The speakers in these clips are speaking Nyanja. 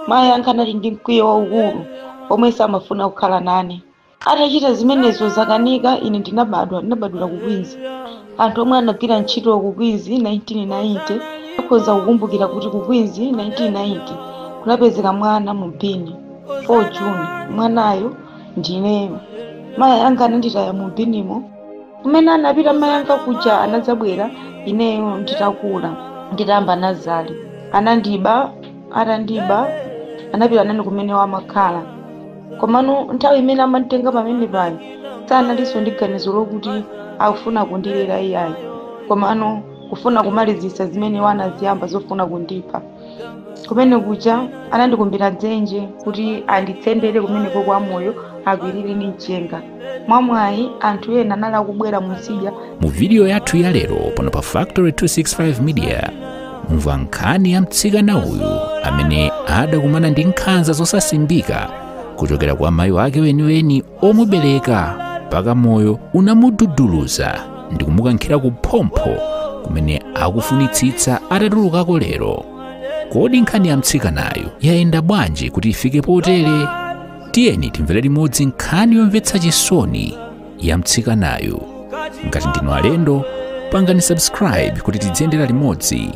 mayi anga anali ndi mkwiyo waukulu omwe samafuna kukhala nane atachita zimenezo zakanika ine ndinabadwa ndinabadwira ku queens anthu omwe anagwira ntchito ku queens 1990 akhoza kukumbukira kuti ku queens 1990 kunapezeka mwana mu bini 4 june mwanayo ndineyo mayi anga ananditaya mu binimo kumene anapita mayi anga kuja anadzabwera ineyo nditakula nditayamba nazale anandiba atandiba anapita nane kumene wamakhala komano nthawi imene amanditenga pamene paja sanalinso ndi ganizo lokuti akufuna kundilera iyayi komano kufuna kumalizitsa zimene wanaziyamba zofuna kundipha kumene kuja anandikumbira dzenje kuti anditsendere kumeneko kwa moyo akwirire ndi mchenga mwamwayi anthu ena anali akubwera mutsidya mu vidiyo yathu ya lero pano pa factory 265 media mumva nkhani ya mtsikana uyu amene adakumana ndi nkhanza zosasimbika kuchokera kwa mayi wake weniweni omubereka mpaka moyo unamududuluza ndi kumukankhira ku phompho kumene akufunitsitsa atatulukako lero kodi nkhani ya mtsikanayu yayenda bwanji kuti ifike potere tiyeni timvere limodzi nkhani yomvetsa chisoni ya mtsikanayu ngati ndinu alendo pangani subscribe kuti tidziyendera limodzi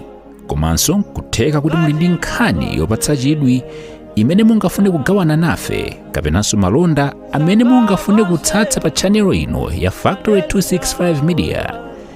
komanso kutheka kuti muli ndi nkhani yopatsa chidwi imene mungafune kugawana nafe kapenanso malonda amene mungafune kutsatsa pa chanelo ino ya factory 265 media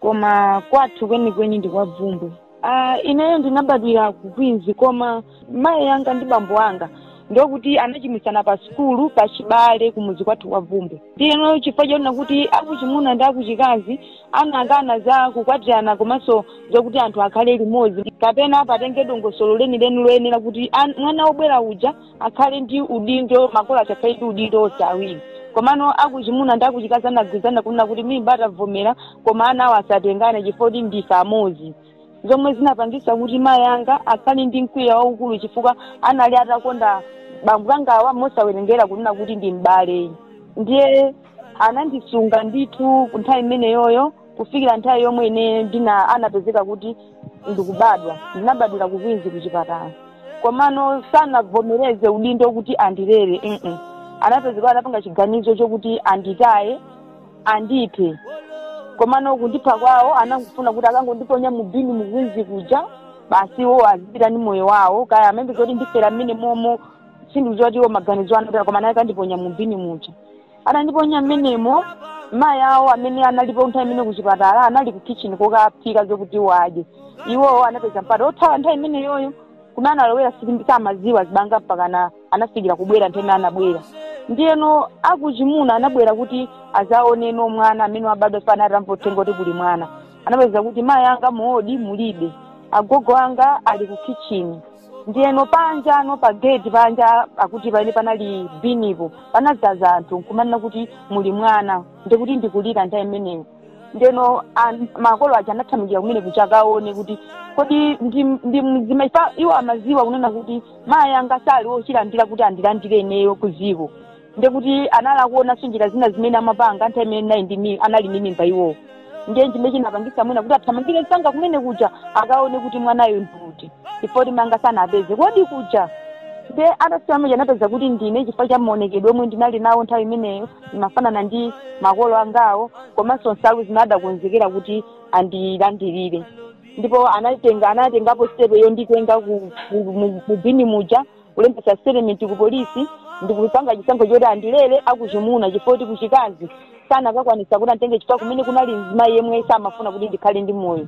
koma kwathu kwenikweni ndi kwa bvumbwe uh, ineyo ndinabadwira ku queens koma mayi anga ndi bambo anga ndokuti anachimwitsana pa sukulu pa chibale kumuzi kwathu kwa bvumbwe ndiyeno chifukwa chonena kuti akuchimuna ndi akuchikazi anakana za kukwatirana komanso zokuti anthu akhale limodzi kapena patenge dongosolo lenileni loyenera kuti an- mwana wobwera uja akhale ndi udindo makolo aja akhale ndi udindo onse awiri komano akuchimuna ndi akuchikazi anagwirizana kunena kuti mimba ataivomera koma ana awo asatengane chifukwa kuti ndife amodzi zomwe zinapangisa kuti mayi anga akhale ndi mkwiyo waukulu chifukwa anali atakonda bambo angawa mosawerengera kunena kuti ndi m'bale ndiye anandisunga ndithu nthawi imeneyoyo kufikira nthawi yomwe ine ndina anapezeka kuti ndikubadwa ndinabadwira ku queens kuchipatala komano sanavomereze udindo kuti andilere mm anapezeka anapanga chiganizo chokuti anditaye andiphe komano kundipha kwawo anangofuna kuti akangondiponya mu bini mu queens kuja basi iwo azipita ndi moyo wawo kaya amayembekeza kuti ndifera mmene momo sindikudziwa kuti iwo maganizo ano koma naye kandiponya mu bini muja anandiponya mmenemo mayi awo amene analipo nthawi imene kuchipatala anali ku kitchen kokaphika zokuti wadye iwowo anapeza mpata othawa nthawi imeneyoyo kumene analowera sili- samaziwa zibanga mpaka na- anafikira kubwera nthawi imene anabwera ndiyeno akuchimuna anabwera kuti azaoneno mwana amene wabadwa pomwe atamva uthenga kuti kuli mwana anapeza kuti mayi anga mu ward mulibe agogo anga ali ku kitchen ndiyeno panjano pa gate panja akuti paene panali bin-po panadzaza anthu nkumanena kuti muli mwana ndikuti ndikulira nthawi imeneyo ndeno an- makolo aja anathamangira kumene kuti akaone kuti kodi ndi, ndi mzimu pa iwo amaziwa kunena kuti mayi anga sali ochilandira kuti andilandire ineyo kuziko ndekuti anali akuonanso njira zina zimene amapanga nthawi imene anali ndi mi- anali ndi mimba iwowo ndiye chimene chinapangisa mwina kuti athamangire msanga kumene kuja akaone kuti mwanayo ndiuti chifukwa kuti mayi anga sanawapeze ku ward kuja nde atafika muja anapeza kuti ndine chifukwa cha maonekedwe omwe ndinali nawo nthawi imeneyo ndimafanana ndi makolo angawo komanso nsalu zimene adakonzekera kuti andilandirire ndipo anatenga anatengapo sitepe yonditenga ku- ku- mu- mu bini muja kulembetsa statement ku polisi ndikupanga chisankho choti andilere akuchimuna chifukwa kuti kuchikazi sanakakwanisa kuti anditenge chifukwa kumene kunali mzimayi yemwe samafuna kuti ndikhale ndi moyo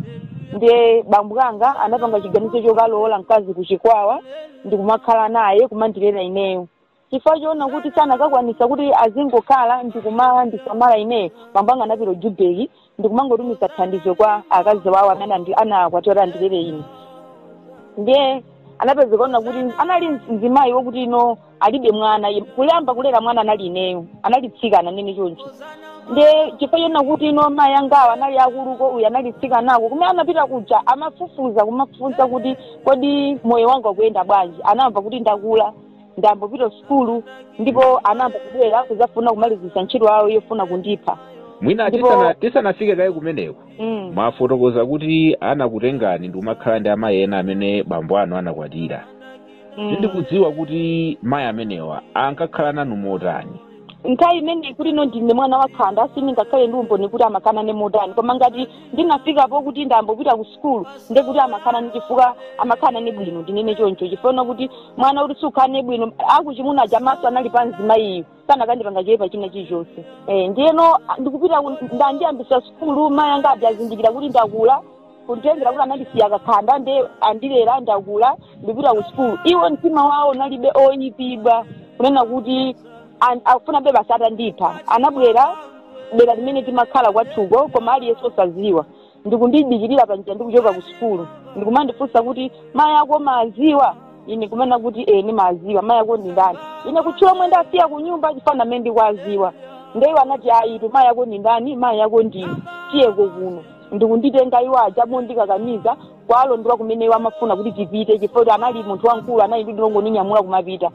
ndiye bambo anga anapanga chiganizo chokalowola mkazi kuchikwawa ndikumakhala naye kumandilera ineyo chifukwa choona kuti sanakakwanisa kuti azingokhala ndikumandisamala ineyo bambo anga anapita Joburg ndikumangotumiza thandizo kwa akazi wawo amene andi- anawakwatira oti andilere ine ndiye anapezekano kuti anali mzimayi wokuti ino alibe mwana Ye- kuyamba kulera mwana anali ineyo anali mtsikana ndinene choncho ndiye chifukwa choona kuti ino mayi angawo anali akuluko uyu anali mtsikanako kumene anapita kuja amafufuza kumafufuza kuti kodi moyo wanga ukuyenda bwanji anamva kuti ndakula ndayamba kupita sukulu ndipo anayamba kubwera kuzafuna kumalizisa ntchito yawo yofuna kundipha mwina Ndipo- tisana- tisanafike kaye kumeneko mm. mwafotokoza kuti anakutengani ndikumakhala ndi amayi ena amene bambo anu anakwatira mm. sindikudziwa kuti mayi amenewa ankakhala nanu motani nthawi imene kuti ino ndine mwana wakhanda sindingakhale ndi umboni kuti amakhala nane motani koma ngati ndinafika pokuti ndayamba kupita ku sukulu ndekuti amakhala ni chifukwa amakhala nane bwino ndinene choncho chifukwa kuti mwana kuti sukhala naye bwino akuchimuna aja maso anali pa mzimayiyu sanakandipanga choyipa china chilichonse eh, ndiyeno a- ndikupita ku- ndandiyambisa sukulu mayi anga aja azindikira kuti ndakula kutengera kuti anandisiya kakhanda nde andilera ndakula ndikupita ku sukulu iwo mtima wawo unalibe oyipidwa kunena kuti An- akufunabe basi atandipha anabwera dera limene timakhala kwathuko koma aliyense osaziwa ndikundidikirira panjira ndikuchoka ku sukulu ndikumandifunsa kuti mayi ako maaziwa ine kunena kuti e ndimaziwa mayi ako ndi ndani ine kutchula omwe ndasiya ku nyumba chifukwa amene ndikwaziwa ndi iwo anati ayitu mayi ako ndi ndani mayi ako ndine tiyeko kuno ndikunditenga iwo aja mondikakamiza kuwalondola kumene iwo amafuna kuti tipite chifukwa kuti anali munthu wamkulu analidi ongoninyamula kumapita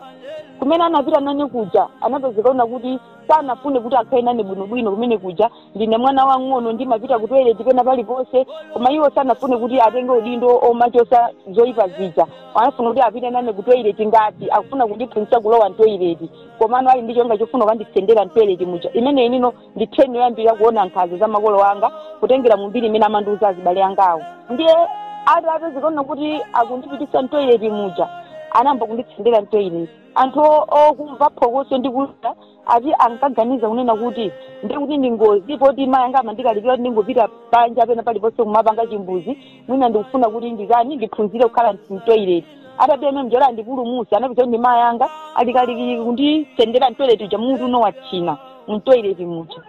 kumene anapita nane kuja anapezeka kunena kuti sanafune kuti akhale nane bwinobwino kumene kuja ndine mwana wang'ono ndimapita ku toilet pena paliponse koma iwo sanafune kuti atenge udindo omachosa zoyipa zija anafuna kuti apite nane ku toilet ngati akufuna kundiphunzitsa kulowa mtoilet komano ali ndi cholinga chofuna kukanditsendera mtoilet muja imene inino ndi time yoyambira kuona nkhanza za makolo anga kutengera mu mbiri imene amandiuza azibale angawo ndiye ati atapezeka kunena kuti akundipitisa mtoileti muja anayamba kunditsendera mtoileti anthu o- okumva phokoso ndi kukuwa ati ankaganiza kunena kuti ndikuti ndi ngozi poti mayi anga amandikalipira kuti ndingopita panja pena paliponse kumapanga chimbuzi mwina ndikufuna kuti nditani ndiphunzire kukhala mtoilet atapita mmene muja akandipulumutse anapezadi mayi anga ali kalikiliki kunditsendera mtoilet muja mutu uno wathina mtoilet muja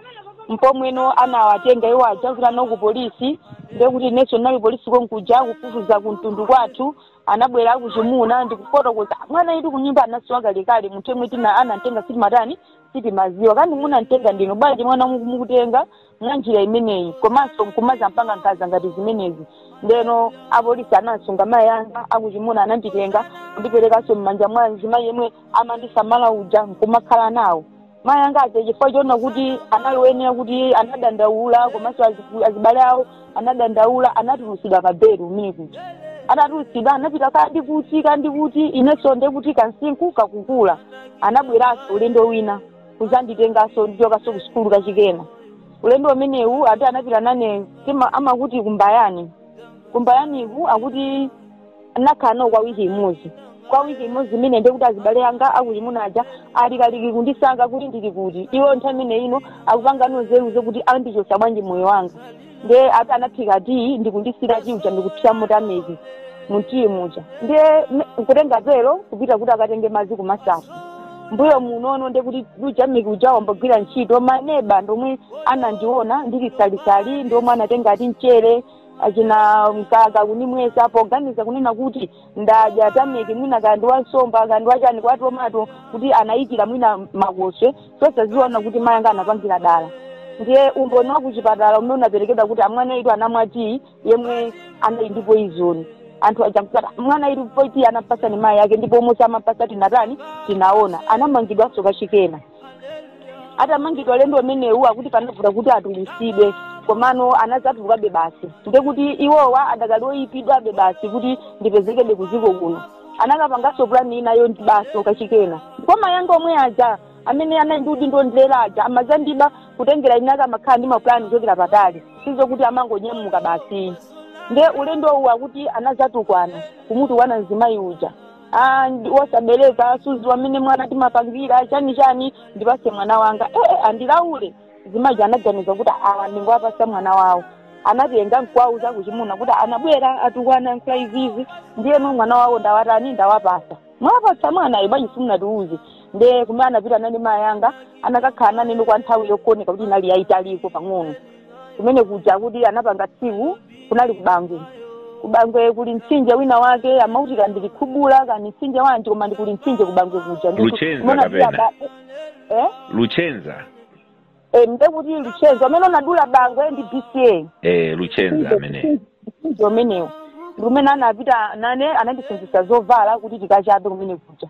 mpomweno anawatenga iwo aja kupita nawo ku polisi ndekuti inenso ndinali polisi konkuja kufufuza kumtundu kwathu anabwera akuchimuna ndikufotokoza mwanayitu kunyumba anasowa kalekale munthu yemwe tina anamtenga sitimatani sitimaziwa kandi munamtenga ndinu bwanji mwana mukutenga mwa njira imeneyi komanso nkumazampanga nkhanza ngati zimenezi ndeno apolisi anasunga mayi anga akuchimuna ananditenga kundiperekanso m'manja mwa mzimayi yemwe amandisamala uja nkumakhala nawo mayi anga aja chifukwa choona kuti anali woyenera kuti anadandaula komanso aziku- azibale awo anadandaula anatulutsidwa pa belo kumene kuja anatulutsidwa anapita kandi kuti kandi kuti inenso ndekuti kamsinkhu kakukula anabweranso ulendo wina kuzanditenganso ndichokanso ku sukulu kachikena ulendo umenewu ati anapita nane tima amakuti ku Mbayani ku Mbayaniku akuti ndinakhala nawo kwa wiki imodzi kwa wiki imodzi imene ndikuti azibale anga akuchimuna aja ali kalikiliki kundisaka kuti ndili kuti iwo nthawi imene ino akupanga nzeru zokuti andichotsa bwanji moyo wanga ndiye ati anaphika tiyi ndikunditsira tiyi uja ndikuthiramo tameki mu tiyi muja ndiye nkutenga pelo kupita kuti akatenge madzi ku Masafu mbuyo munono ndiye kuti tameki uja wayamba kugwira ntchito maneba ndomwe anandiona ndili salisali ndiomwe anatenga ati mchere achina mkaka kunimwesa poganiza kunena kuti ndadya tameki mwina kaya ndi wansomba kaya ndi wachani wa tomato kuti anayikira mwina makoswe osadziwa kuti mayi anga anapangira dala ndiye umboni wa kuchipatala umene unaperekedwa kuti a mwana uyutu anamwa tiyi yemwe anali ndi poizoni anthu aja nkuti mwana uyu koma tiyi anampatsa ndi mayi yake ndipo mmusi amapasa tinatani tinaona anamangidwanso kachikena atamangidwa ulendo umenewu akuti panavuta kuti atulusidwe komano anazatulukabe basi nde kuti iwowa adakali oyipidwabe basi kuti ndipezekebe kuziko kuno anakapanganso pulani ina yondibaso kachikena kwa mayi anga omwe aja amene anali ndi udindo wondilera aja amazandiba kutengera kuti akakhala amakhala ndi mapulani kuchokera patali sizokuti amangonyamuka basi nde ulendo uwu akuti anazatukwana kumutukwana mzimayi uja Ah, ndi- wosabereka sudziwa mmene mwana timampangira chani chani ndipase mwana wanga ee andilaule mzimayi uja anaganiza kuti aah ndingowapasa mwana wawo anatenga nkuwauza akuchimuna kuti anabwera atukwana nkulankhula izizi ndiyeno mwana wawo ndawatani ndawapasa mwapasa mwanayo bwanji simunatiuze nde kumene anapita nane mayi anga anakakhala nane kwa nthawi yokoneka kuti inali yayitaliko pang'ono kumene kuja kuti anapanga tsiku kunali kubangwe kubangwe kuli mtsinje wina wake amauti kaya ndi Likhubula kaya ndi mtsinje wanji komano kuli mtsinje kubangwe kuja Ndi- Luchenza kumene kuti kapena? aba- eh? luchenza Eh, nde kuti luchenza umene unadula bangwe ndi bca eh, luchenza ameneyo mtsinje umenewo ndi kumene anapita nane anandisenzetsa zovala kuti tikachape kumene kuja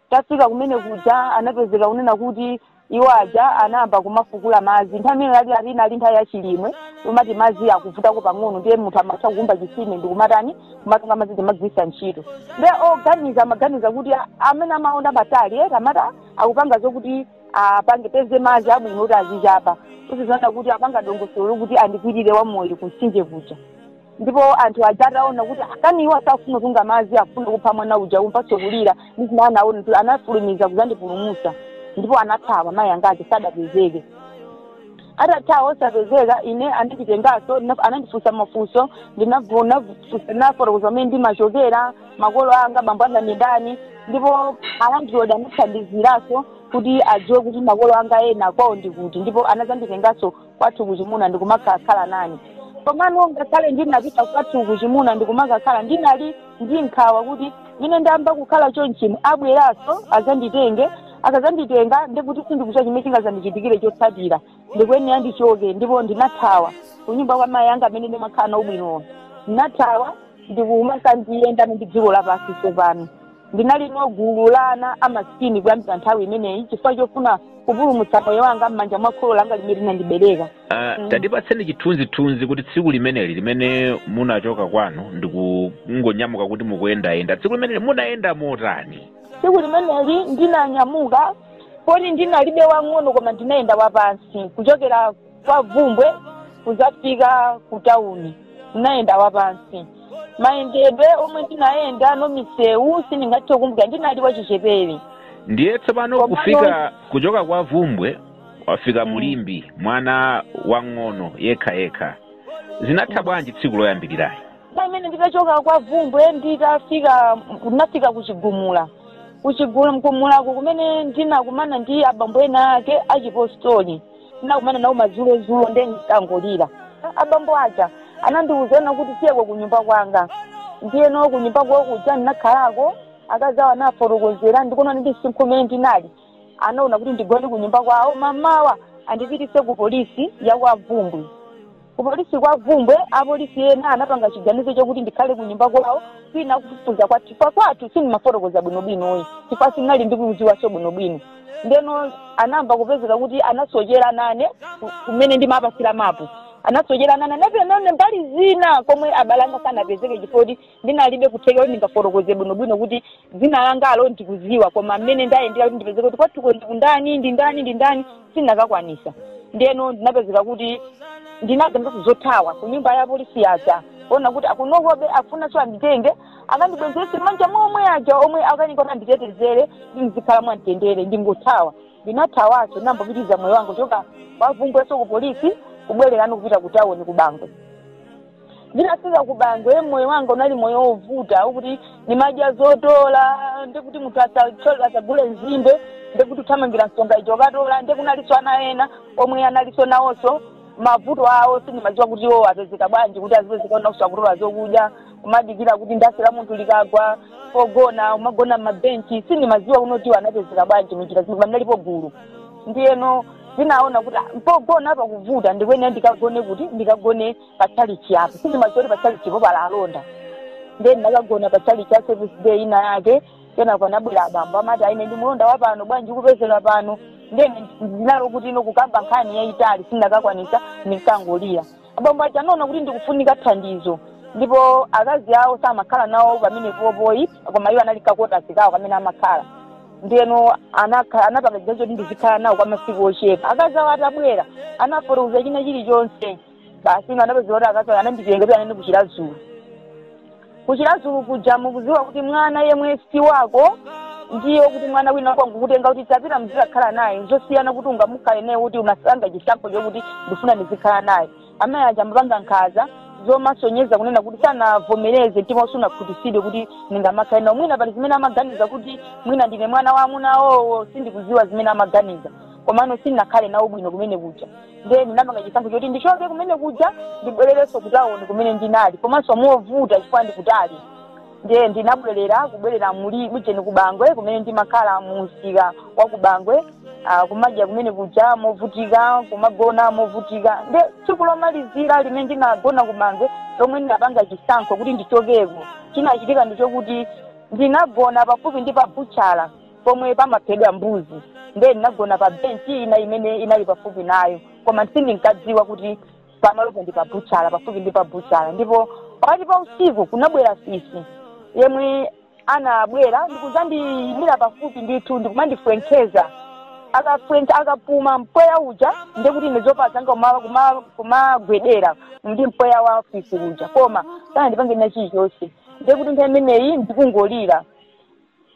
tafika kumene kuja anapezeka kunena kuti iwo aja anayamba kumafukula madzi nthawi imene ija eti eti inali nthawi ya chilimwe moti madzi akuvutako pang'ono ndiye munthu amatha kukumba chisime ndikumatani ndikumatunga madzi nkumagwiritsa ntchito ndiye oganiza amaganiza kuti a- amene amaona patali eti amati akupanga zokuti apange apeze madzi abwino kuti azichapa osadziwa kuti apanga dongosolo lokuti andikwirire wamoyo kumtsinje kuja Ndipo anthu aja ataona kuti ah kani iwowa sakufuna kutunga madzi akufuna kupha mwana uja atamvatso kulira ndi zimene anaona kuti anafulumiza kuzandipulumusa ndipo anathawa mayi anga aja sadapezeke atathawa osapezeka ine ananditengaso ndina- anandifunsa mafunso ndinavu- navu- ndinafotokoza kumene ndimachokera makolo anga bambo anga ndi ndani ndipo anandilonda anathandiziraso kuti adziwe kuti makolo anga ena kwawo ndi kuti ndipo anazanditengaso kwathu kuchimuna ndikumakakhala nane komano ngakhale ndinapita kwathu kuchimuna ndikumakakhala ndinali ndi nkhawa kuti mmene ndayamba kukhala chonchino abweranso azanditenge akazanditenga ndikuti sindikudziwa chimene chingazandichitikire chotsatira ndikuyenera ndichoke ndipo ndinathawa kunyumba kwa mayi anga amene ndimakhala nawo bwinowo ndinathawa ndikumakadziyendera ndi dziko lapansi tsopano ndinali no gulu la ana amasikini kuyambira nthawi imeneyi chifukwa chofuna kupulumutsa moyo wanga m'manja mwa kholo langa limene linandibereka Ah, Mm. tatipatseni chithunzithunzi kuti tsiku limeneli limene munachoka kwanu ndikungonyamuka kuti mukuyendayenda tsiku limeneli munayenda motani tsiku limeneli ndinanyamuka poti ndinalibe wang'ono koma ndinayenda wapansi kuchokera kwa Bvumbwe kuzafika ku tauni ndinayenda wapansi mayendedwe omwe ndinayenda no misewu sindingathe kukumbukira ndinali wachichepere ndiye tsopano Komano- kufika kuchoka kwa Bvumbwe wafika Mm. mu Limbe mwana wang'ono yekha yekha zinatha bwanji tsiku loyambiriralo pamene nditachoka kwa Bvumbwe nditafika ndinafika ku Chigumula ku Chigumulako kumene ndinakumana ndi abambo ena ake achipostori ndinakumana nawo madzulozulo nde ndinkangolira abambo aja anandiuzano kuti tiyeko kunyumba kwanga ndiyeno kunyumba kwawo kuja ndinakhalako akazi awo anafotokozera ndikuona ndi msinkhu umene ndinali anaona kuti ndigone kunyumba kwawo mamawa andipitise ku polisi ya kwa Bvumbwe kupolisi kwa Bvumbwe apolisi ena anapanga chiganizo chokuti ndikhale ku nyumba kwawo kwinaku akufufuza kwathu chifukwa kwathu sindimafotokoza bwinobwinoyi chifukwa sinali ndikuziwaso bwinobwino ndeno anayamba kupezeka kuti anasochera nane ku- kumene ndimawapatsira mapu anasochera nane anapita nane mbali zina komwe abale anga sanapezeke chifukwa kuti ndinalibe kuthekera kuti ndingafotokoze bwinobwino kuti dzina langalo ndikuziwa koma mmene ndayendera kuti ndipezeke kuti kwathuko ndi kwa ndani ndi ndani ndi ndani sindinakakwanisa ndeno ndinapezeka kuti ndinaganizaso zothawa ku nyumba ya apolisi aja kuona kuti akunokobe afunanso anditenge akandibwezerese m'manja momwe muja omwe akanika kuti anditetezere ndizikhala mwamtendere ndingothawa ndinathawaso ndinayamba kupitiriza moyo wanga kuchoka kwa Bvumbweso ku polisi kubwererano kupita ku tawoni ku Bangwe ndinafika ku Bangwe moyo wanga unali moyo wovuta wokuti ndimadya zotola ndikuti munthu asatole asagule nzimbe ndikuti uthamangira nsonga ijo kukatola ndiye kunalinso ana ena omwe analinso nawonso mavuto awo sindimadziwa kuti iwo apezeka bwanji kuti azipezeka na kusakutola zokudya kumadikira kuti mandasi la munthu likagwa pogona umagona m'mabenchi sindimadziwa kuti iwo anapezeka bwanji munjira zimwe pamene alipo gulu ndiyeno ndinaona kuti ah, pogona apa pakuvuta ndikuyenera ndikagone kuti ndikagone pa chalichi apo sindimadziwa kuti pa chalichipo pali alonda ndiye ndinakagona pa chalichi ya Seventh Day ina yake kenako anabwera abambo amati ah ine ndi mulonda wa pano bwanji ukupezeka pano ndiye ndinali kuti ine kukamba nkhani yayitali sindinakakwanisa ndinkangolira abambo aja anaona kuti ndikufunika thandizo ndipo akazi awo samakhala nawo pamenepopo ayi koma iwo anali ku kotasi kwawo kamene amakhala ndiyeno anakha- anapanga chiganizo kuti ndizikhala nawo kwa masiku ochepa akazi awo atabwera anafotokoza china chilichonse basi ino anapezeka kuti akazi awo ananditenga kuti anene ku Chiradzulu ku Chiradzulu kuja mukuziwa kuti mwana yemwe si wako ndiye kuti mwana wina wangokutenga kuti tapita mzikakhala naye zosiyana kuti ungamukhale naye kuti unapanga chisankho chokuti ndifuna ndizikhala naye amayi aja amapanga nkhaza zomasonyeza kunena kuti sanavomereze mtima wawo sunakhutitsidwe kuti ndingamakhale nawo mwina pali zimene amaganiza kuti mwina ndine mwana wa amuna awowo sindikudziwa zimene amaganiza komano sindinakhale nawo bwino kumene kuja ndiye ndinapanga chisankho choti ndichoke kumene kuja ndibwererenso kutawuni kumene ndinali komanso movuta chifukwa ndikutali ndiye ndinabwerera kubwerera m'Mulibujeni ku Bangwe kumene ndimakhala mu msika wa ku Bangwe ah, kumadya kumene kuja movutika kumagona movutika nde tsiku lomalizira limene ndinagona ku Bangwe lomwe ndinapanga chisankho kuti ndichokeko chinachitika ndi chokuti ndinagona pafupi ndi pa butchala pomwe pamaphedwa mbuzi nde ndinagona pa benchi ina imene inali pafupi nayo koma sindinkadziwa kuti pamalopo ndi pa butchala pafupi ndi pa butchala ndipo pakati pa usiku kunabwera fisi yemwe anabwera ndikuzandiyimira pafupi ndithu ndikumandifwenkeza akafwenka akapuma mpweya uja ndekuti ine zovala zanga kuma- kuma- kumagwedera ndi mpweya wa fisi uja koma sanandipange kena chilichonse ndekuti nthawi imeneyi ndikungolira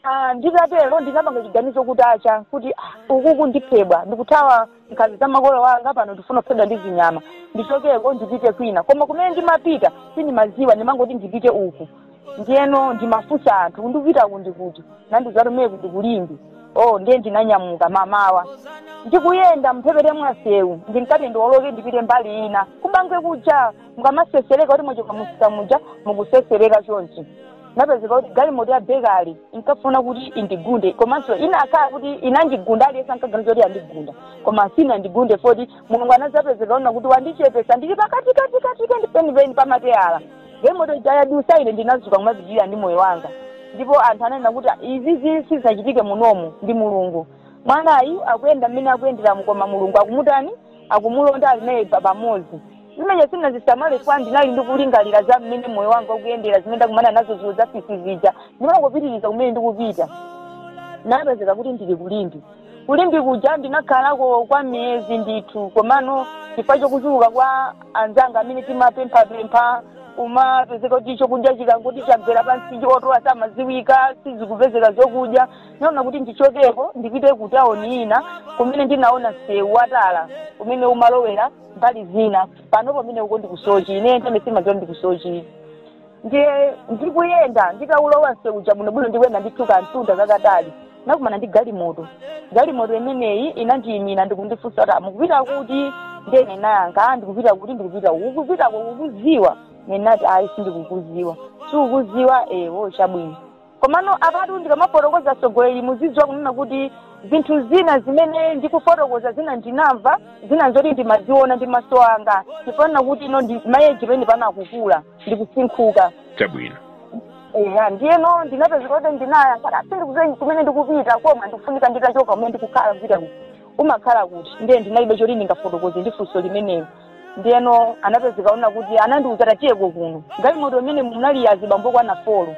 Ah, nditatero ndinapanga chiganizo kuti acha kuti ah, ukuku ndiphedwa ndikuthawa nkhanza za makolo wanga pano ndifuna kuphedwa ndi zinyama ndichokeko ndipite kwina koma kumene ndimapita sindimaziwa ndimangoti ndipite uku ndiyeno ndimafunsa anthu kuti ndikupita uku ndi kuti nandiuza kuti kumeneko ndi ku Limbe oh ndiye ndinanyamuka mmamawa ndikuyenda mphepete mwasewu ndinkati ndioloke ndipite mbali ina ku Bangwe kuja mukamatsetsereka kuti mwachoka mumsika muja mukutsetsereka chonchi napezeka kuti galimoto ya bekale inkafuna kuti indigunde komanso inakhala kuti inandigunda aliyense ankaganiza kuti yandigunda koma sinandigunde poti mulungu anazapezeka onena kuti wandichepesa ndili pakati kati kati kati penipeni pamateyala galimoto ija yadusa ine ndinazuka kumapitirira ndi moyo wanga ndipo anthu ananena kuti izizi sizachitike munomu ndi mulungu mwanayu akuyenda mmene akuyenderamu koma mulungu akumutani akumulonda ali naye pa- pamodzi zimene sinazisamale chifukwa ndinali ndikulingalira za mmene moyo wanga ukuyendera zimene ndakumana nazo zinthu za fisi zija ndimangopitiriza kumene ndikupita napezeka kuti ndili ku Limbe ku Limbe kuja ndinakhalako kwa miyezi ndithu komano chifukwa chokuchuluka kwa anzanga amene timapemphapempha kumapezeka kuti chokudya chikangoti chagwera pansi otola samaziwika sizikupezeka zokudya naona kuti ndichokeko ndipite ku tauni ina kumene ndinaona msewu watala kumene umalowera mbali zina pano pamene uko ndikusochi ine nthawi imene sindimadziwa ndikusochi ndiye ndikuyenda nditaulowa nseu uja bwinobwino ndikuyenda ndithu kamtunda kakatali ndinakumana ndi galimoto galimoto imeneyi inandiyimira ndikundifunsa kuti mukupita kuti ndiye ndinayankha "Ah, ndikupita kuti ndikupita uku ukupitako kukuziwa ndinati ayi sindikukuziwa sukukuziwa eya chabwino komano apatu ndikamafotokoza atsogoleri muzidziwa kunena kuti zinthu zina zimene ndikufotokoza zina ndinamva zina nzoti ndimaziona ndi maso anga chifukwa chakuti ino ndi ma age amene pano akukula ndikusinkhuka chabwino eya ndiyeno ndinapezeka kuti ndinayankha kuti ah sindikudziwa kumene ndikupita koma ndikufunika nditachoka kumene ndikukhala ndiye ati umakhala kuti ndiye ndinalibe choti ndingafotokoze ndi funso limenelo ndiyeno anapezeka kunena kuti anandiuza tatiye kuno galimoto imene munali azibambo okwana folo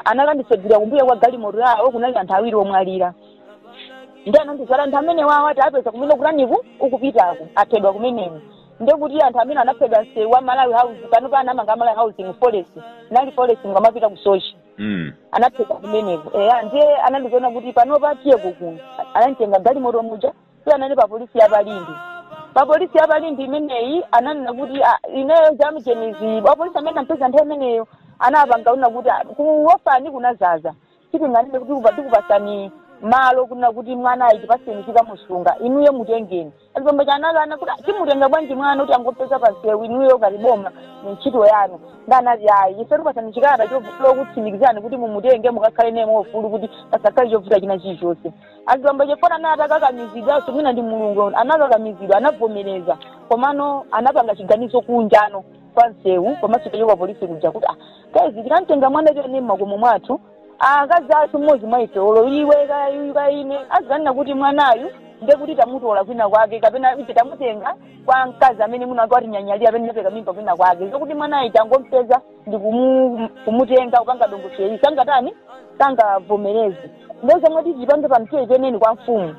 anakandisegulira kumbuyo kwa galimoto yawo kunali anthu awiri omwalira ndiye anandiuza kuti anthu amenewa awa ati apeza kumene kutani uku ukupitako aphedwa kumeneko ndekuti anthu amene anaphedwa msewu wa malawi house pano pa anamanga malawi housing forest munali forest ukamapita ku Soche mm. anaphedwa kumeneko eya ndiye anandiuza kuti pano tatiyeko kuno ananditenga galimoto muja si anali pa polisi ya pa Limbe pa polisi ya pa Limbe imeneyi ananena kuti ah, ineyo jamjenizi wapolisi amene anampeza nthawi imeneyo anapanga kunena kuti ah, kuofani kunadzaza sitinganene kuti kupa- tikupatsani malo kunena kuti mwanayu tipatseni tikamusunga inuyo mutengeni azibambo aja anakana kuti ah, timutenga bwanji mwana oti tangopeza pansewu inuyo ngati boma ndi ntchito yanu ndiye anati ayi ife tikupatsani chikalata chokutsimikizani kuti mumutenge mukakhale naye mwaufulu kuti pasakhale chovuta china chilichonse azibambo aja chifukwa anali atakakamizidwanso mwina ndi mulungu anakakamizidwa anavomereza komano anapanga chiganizo kunja kuno kwa msewu komanso kuchoka polisi kuja kuti ah, guys tikamtenga mwana uyu tione mmakomo mwathu akazi athu mmodzi mwa ife olo iwe kaya ine azikanena kuti mwanayu nde kuti tamutola kwina kwake kapena ife tamutenga kwa mkazi amene winawake watinyanyalira amene tinapereka mimba kwina kwake zokuti mwanayu tangompeza ndi kumu- kumutenga kupanga dongosolo ili sangatani sangavomereze ndiye zomwe titi tipange pano tiyeni kwa mfumu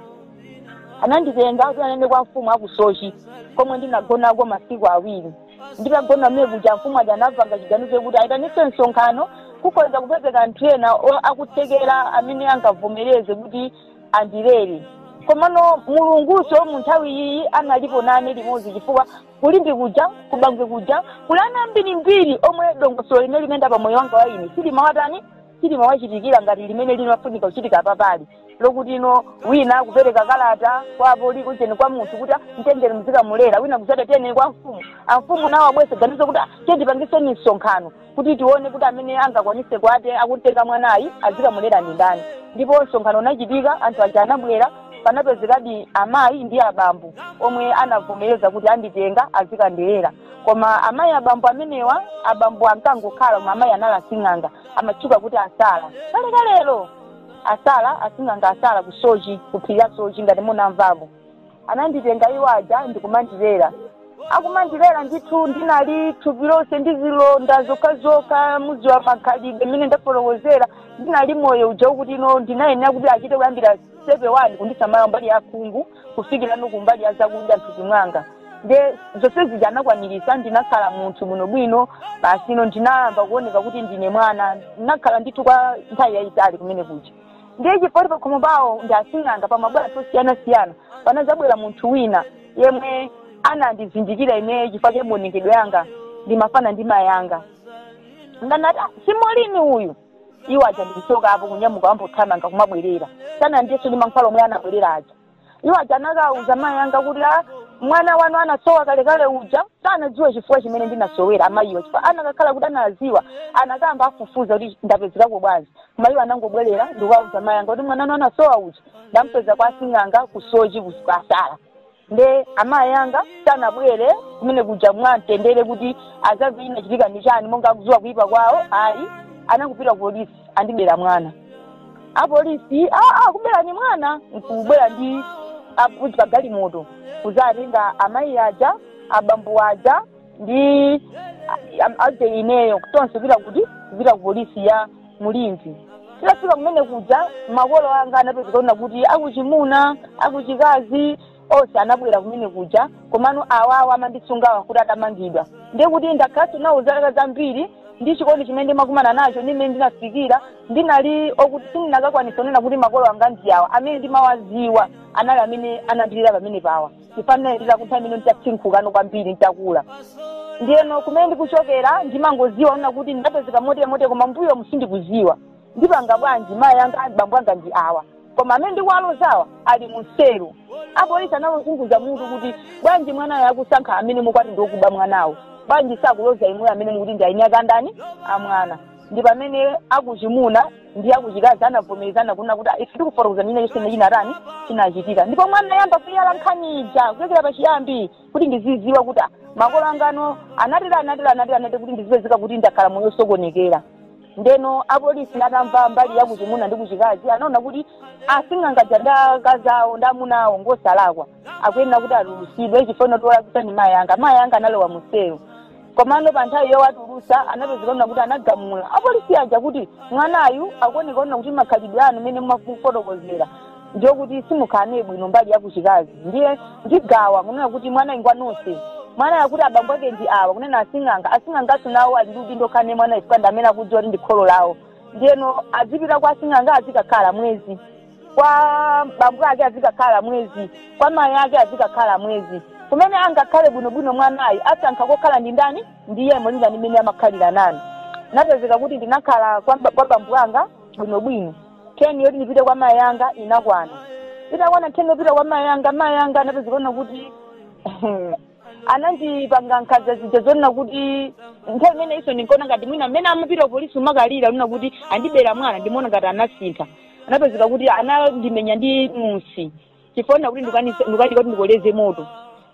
ananditenga kupita nane kwa mfumu aku Soche komwe ndinagonako masiku awiri nditagona mmene kuja mfumu aja anapanga chiganizo chokuti ayitanise msonkhano kukhoza kupezeka anthu ena o- akutsekera amene angavomereze kuti andilere komano mulungunso mu nthawi iyi analipo nane limodzi chifukwa ku Limbe kuja ku Bangwe kuja kuli ana ambirimbiri omwe dongosolo limene limayenda pa moyo wanga wa ine silimawatani silimawachitikira ngati limene limayenera kuchitika papali lokuti ino wina kupereka kalata kwa apolisi kunena kwa munthu kuti mtengeni muzikamulera wina kudzati tiyeni kwa mfumu amfumu nawo abwere ndi ganizo kuti "Ah, tiye tipangiseni msonkhano kuti tione kuti amene angakwanise kukatenga mwanayi azikamulera ndi ndani ndipo msonkhano unachitika anthu aja anabwera panapezekadi amayi ndi abambo omwe anavomereza kuti anditenga azikandilela koma amayi ndi abambo amenewa abambo ankangokhala koma amayi anali asing'anga amatchuka kuti asala kalekalero asala asing'anga asala ku sochi ku phiri la sochi ngati munamvapo ananditenga iwo aja ndikumandilera akumandilera ndithu ndinali thupi lonse ndi zilonda zokhazokha muziwa makhalidwe mmene ndafotokozera ndinali moyo uja okuti ino ndinayenera kuti achite kuyambira sitepe wani kundisamala kumbali ya khungu kufikirano kumbali ya zakudya mthupi mwanga nde zonse zija anakwanilitsa ndinakhala munthu bwinobwino basi ino ndinayamba kuoneka kuti ndine mwana ndinakhala ndithu kwa nthawi yayitali kumene kuja ndiye chifukwa choti pakhomo pawo ndi asing'anga pamabwera anthu osiyanasiyana panazabwera munthu wina yemwe anandizindikira ineyo chifukwa cha maonekedwe anga ndimafanana ndi mayi anga nde anati "Ah, si Molini uyu iwo aja ndikuchoka apo kunyamuka mothamanga kumabwerera osafunanso ndi mankhwala omwe anabwerera aja iwo aja anakauza mayi anga kuti a mwana wanu anasowa kalekale uja sanadziwa chifukwa chimene ndinasowera amayiwa chifukwa anakakhala kuti anaziwa anakayamba afufuza kuti ndapezekako bwanji koma iwo anangobwerera ndikukauza mayi anga kuti mwana wanu anasowa uja ndampeza kwa asing'anga ku sochi kwa sala nde amayi anga sanabwere kumene kuja mwamtendere kuti azamve chinachitika ndi chani monga akuziwa kuyipa kwawo ayi anangopita ku polisi andibera mwana apolisi aa akuberani mwana nkubwera ndi apolisi pa galimoto kuzatenga amayi aja abambo aja ndi a- a- eje ineyo tonse pita kuti kupita ku polisi ya mu limbe titafika kumene kuja makolo anga anapezeka kunena kuti akuchimuna akuchikazi onse anabwera kumene kuja komano awawa amandisungawa kuti atamangidwa ndiye kuti ndakhalanso nawo zaka zambiri ndi chikondi chimene ndimakumana nacho ndi mmene ndinafikira ndinali okuti sindinakakwanisa kunena kuti makolo anga ndi awa amene ndimawaziwa anali amene anandilera pamene pawa chifukwa anandilera kufikira pamene nditasinkhukano kwambiri nditakula ndiyeno kumene ndikuchokera ndimangoziwa kunena kuti ndapezeka motemote koma mmbuyomu sindikuziwa ndipanga bwanji mayi anga bambo anga ndi awa koma amene ndikuwalozawa ali mu selo apolisi anawazunguza mutu kuti bwanji mwanayo akusankha amene mukuti ndi okuba mwanawo bwanji sakuloza inu amene mukuti ndi eniake a ndani a mwana ndi pamene akuchimuna ndi akuchikazi anavomerezana kunena kuti ife tifotokoza china chonse chimene chinatani chinachitika ndipo anayamba kuyala nkhani ija kuchokera pachiyambi kuti ndiziziwa kuti ah, makolo anga anatere anatere anatere anatere kuti ndizipezeka kuti ndakhala moyo osokonekera ndeno apolisi atamva mbali ya kuchimuna ndi kuchikazi anaona kuti asing'anga aja ndi akazi awo ndi amuna awo ngosalakwa akuyenera kuti atulusidwe chifukwa wolakwitsa ndi mayi anga mayi anga analowa muselo komano pa nthawi yowatulusa anapezeka kunena kuti anagamula apolisi aja kuti mwanayu akuoneka kunena kuti makhalidwe anu mene mumafotokozera ndiye kuti simukhala naye bwino mbali yakuchikazi ndiye ndigawa kunena kuti mwanayi ngwa nonse mwanayi akuti abambo ake ndi awa kunena asing'anga asing'anganso nawo ali ndi udindo okhala naye mwana chifukwa ndi amene akudziwa kuti ndi kholo lawo ndiyeno azipita kwa asing'anga azikakhala mwezi kwa bambo ake azikakhala mwezi kwa mayi ake azikakhala mwezi kumene angakhale bwinobwino mwanayi asankha kokhala ndi ndani ndiye molingana ndi mmene amakhalira naye napezeka kuti ndinakhala kwa bambo anga bwinobwino teni yoti ndipite kwa mayi anga inakwana itakwana teni yopita kwa mayi anga mayi anga anapezeka kunena kuti anandipanga nkhanza zija zonena kuti nthawi imene ija ndinkaona ngati mwina mmene amapita polisi kumakalira kunena kuti andibera mwana ndimaona ngati anasintha anapezeka kuti anandimenya ndi musi chifukwa chonena kuti ndikukanika kuti ndikoleze moto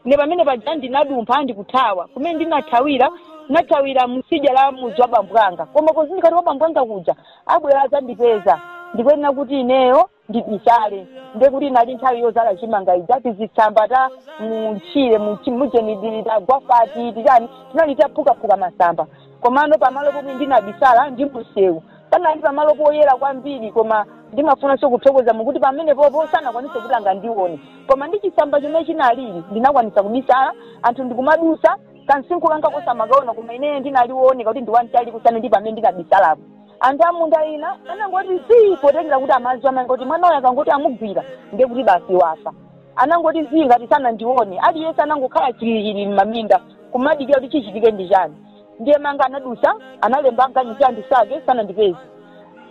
ne pamene paja ndinadumpha ndikuthawa kumene ndinathawira ndinathawira kutsidya la mudzi wa bambo anga koma pozindikira kuti kwa bambo anga kuja abwera adzandipeza ndikuyenera kuti ineyo ndibisale nde kuti inali nthawi yozala chimanga ija tizitsamba ta mutchire mujeni tagwafati titani tinali taphukaphuka masamba komano pamalo pomwe ndinabisala ndi msewu Panali pamalo poyera kwambiri koma ndimafunanso kuthokoza Mulungu kuti pamenepopo sanakwanitse kuti angandione. Koma ndi chitsamba chomwe chinalili ndinakwanitsa kubisala anthu ndikumadutsa kamsinkhu kanga kosamakaona koma ineyo ndinali wooneka kuti ndi wamtali kusiyana ndi pamene ndinabisalapo. Anthu a munda ina anangoti zii potengera kuti amadziwa amayi anga kuti mwana uyu akangoti amugwira ndiye kuti basi wafa. Anangoti zii ngati sanandione aliyense anangokhala chilili m'maminda kumadikira kuti chichitike ndi chani. Ndiye mayi anga anadusa, analemba aganyu azindisaka, sanandipeze.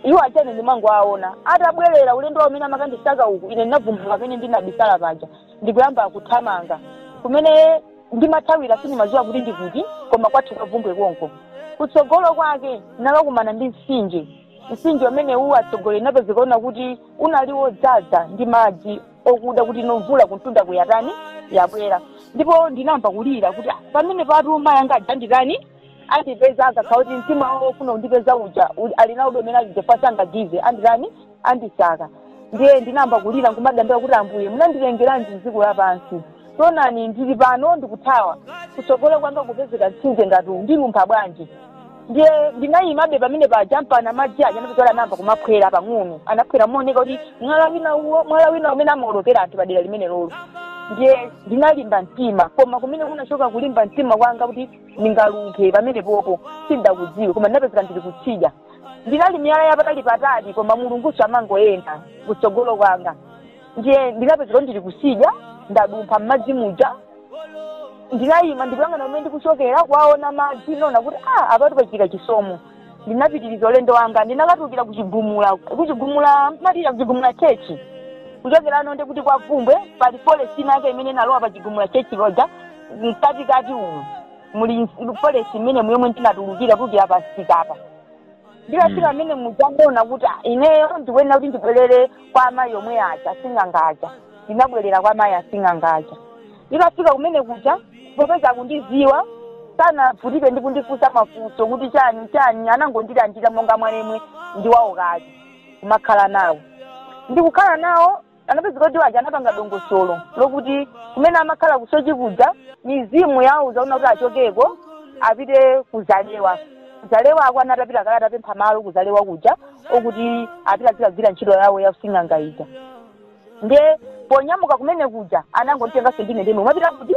Iwo aja ine ndimangowaona. Atabwerera ulendo wawo umene amakandisaka uku, ine ndinavumbuluka pamene ndinabisala paja, ndikuyamba kuthamanga. Kumene ndimathawira sindimadziwa kuti ndi kuti, koma kwathu kwa Bvumbwe konko. Kutsogolo kwake ndinakakumana ndi mtsinje. Mtsinje umenewu atsogoleri unapezeka kunena kuti unali wodzaza ndi madzi. okuda kuti mwina mvula kumtunda kuja yatani yabwera ndipo ndinayamba kulira kuti pamenepatu mayi anga aja anditani andipeza akakhala kuti mtima ofuna kundipeza uja ali nawo ndi momwe aja achinyamata aganyu aja anditani andisaka ndiye ndinayamba kulira nkumadandaula kuti ambuye munandilengeranji mdziko lapansi taonani ndili pano ndikuthawa kutsogolo kwanga kupezeka mtsinje ngati uwu ndilumpha bwanji ndiye ndinayimabe pamene paja mpaka madzi aja anapita anayamba kumaphwera pang'ono anaphwera mooneka kuti mwala wina uwo mwala wina umene amaolokera anthu padera limene lolo ndiye ndinalimba mtima koma kumene kunachoka kulimba mtima kwanga kuti ndingalumphe pamene popo sindakudziwe koma ndinapezeka ndili kutsidya inali miyala yapatali patali koma Mulunguyo amangoyenda kutsogolo kwanga ndiye ndinapezeka ndili kusidya ndadumpha m'madzi muja ndinayima ndikuyang'ana kumene ndikuchokera kuwaona madzi ndinaona kuti a apatu pachita chisomo ndinapitiriza ulendo wanga ndinakatulukira kuchigumula matira kuchigumula chechi kuchokerano ndi kuti kwa vumbwe pali forest ina yake imene inalowa pa chigumula chechi loja mkatikati umu muli forest imene mwemwe ndinatulukira kuti apa sikapa nditafika kumene muja ndinaona kuti "Ah, ineyo ndikuyenera kuti ndibwerere kwa amayi omwe aja asing'anga aja ndinabwerera kwa amayi asing'anga aja nditafika kumene kuja popeza kundiziwa sanavutike ndi kundifunsa mafunso kuti chani chani anangondilandira monga mwa nemwe ndi wawo kuti kumakhala nawo ndikukhala nawo anapezeka kuti awo aja anapanga dongosolo lokuti kumene amakhala kusochi kuja mizimu yawauza kuti achokeko apite kuzalewa kuzalewako anatapita kale atapempha malo kuzalewa kuja okuti apite azikagwira ntchito yawo ya using'anga ija nde ponyamuka kumene kuja anangonitenganso ine ndemwe mwapita kuti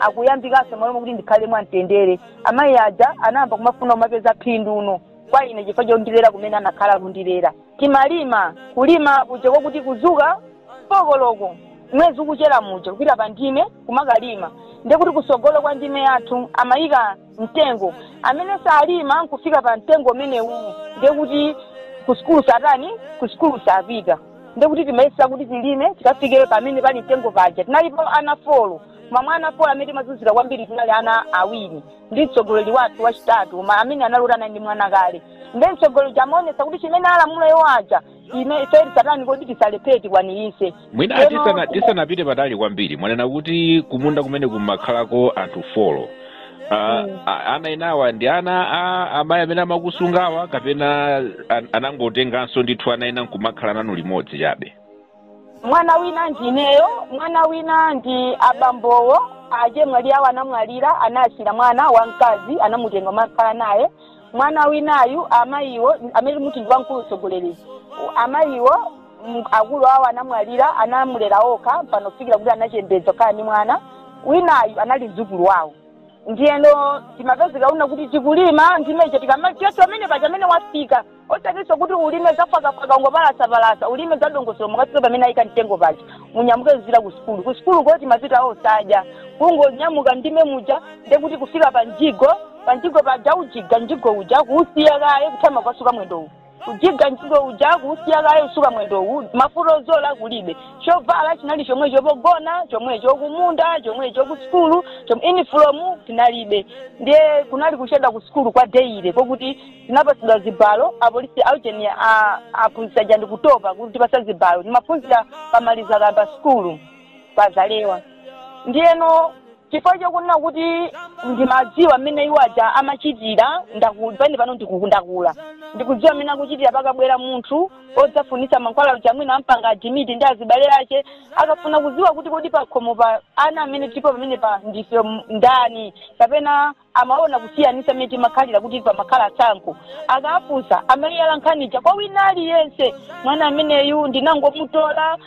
akuyambikanso mmalo mokuti ndikhale mwamtendere amayi aja anayamba kumafuna kumapeza phindu no kwa ine chifukwa chondilera kumene anakhala kundilera timalima kulima kuja kwakuti kuzuka folo koloko mwezi ukuchera muja kupita pa ndime kumakalima ndekuti kusogolo kwa ndime yathu amayika mtengo amene salima kufika pa mtengo umenewu ndekuti kusikulu satani kusikulu sapita ndekuti timayesa kuti tilime tikafike pamene pali mtengo paja tinalipo ana folo koma mwa ana 4 amene timazunzika kwambiri tinali ana awiri ndi mtsogoleri wathu wachitatu koma amene anali kuti anali ndi mwana kale ndiye mtsogoleri uja amaonetsa kuti chimene alamula iwo aja ife tisatani kodi tisalephere tikwanirise mwina Lero- tisana- tisanapite patali kwambiri mwanena kuti kumunda kumene kumakhalako anthu folo Uh, a- ana enawa ndi ana a amayi amene amakusungawa kapena an- anangotenganso ndithu ana ena nkumakhala nanu limodzi chabe mwana wina ndi ineyo mwana wina ndi abambowo achemwali awo anamwalira anasiya mwana wamkazi anamutenga amakhala naye mwana winayu amayiwo amene ndikuti ndi wamkulu mtsogoleri amayiwo m- akulu awo anamwalira anamulera okha mpaka kufikira kuti anachembedza akhala ndi mwana winayu anali mdzukulu wawo ndiyeno timapezekano kuti tikulima ndime ija tikamatiyetu amene paja amene wafika osatinso kuti ulime zaphakaphaka ungopalasapalasa ulime zadongosolo mukafika pamene ayika mtengo paja munyamuke muzipita ku sukulu ku sukulu koti timapita osadya kungonyamuka ndime muja ndekuti kufika pa mjigo pa mjigo paja ujiga mjigo uja kuusiya kaye kutama kusuka mwendowu ujiga mjigo uja kuusiya kaye usuka mwendowu mafuta ozola kulibe chovala chinali chomwe chopogona chomwe chokumunda chomwe cha ku sukulu chom- inifomu tinalibe ndiye kunali kuchedwa ku sukulu kwa deile kokuti tinapatsidwa zibalo apolisi aujeni aphunzitsi aja ndikutopa kutipasa zibalo timaphunzira pamalizaka pa sukulu pazalewa ndiyeno chifukwa chokunena kuti ndimadziwa mmene iwo aja amachitira ndaku- pene pano ndiku- ndakula ndikudziwa mmene akuchitira pakabwera munthu odzafunitsa mankhwala aja mwina ampanga adimiti ndi azibale ake akafuna kudziwa kuti kodi pakhomo pa ana amene tilipo pamenepa ndife m- ndani kapena amaona kusiyanisa mmene timakhalira kuti pamakhala tsankho akafunsa amayala nkhani ija kwa wina aliyense mwana ameneyu ndinangomutola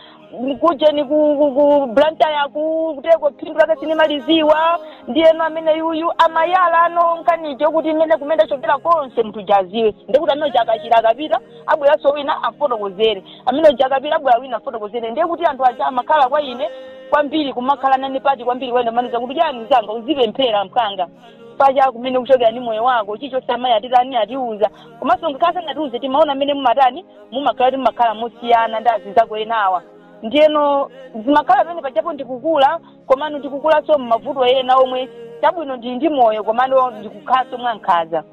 kujeni ku, ku, ku Blantyre kukuteko phindu lake sindimalidziwa ndiyeno ameneyuyu amayalano nkhani ija kuti mmene kumene ndachokera konse munthu uja adziwe ndikuti amene uja akachira akapita abweranso wina afotokozere amene uja akapita abwera wina afotokozere ndiye kuti anthu aja amakhala kwa ine kwambiri kumakhala nane pati kwambiri amandiuza kuti chani mzanga uzipemphera mpaka paja kumene ukuchokera ndi moyo wako chilichonse amayi atitani atiuza komanso ngakhale sanatiuze timaona mmene mumatani mumakhala kuti mumakhala mosiyana ndi azinzako enawa ndiyeno zimakhala pamene pajapo ndikukula komano ndikukulanso m'mavuto ena omwe chabwino ndili ndi moyo komano ndikukhalanso mwankhaza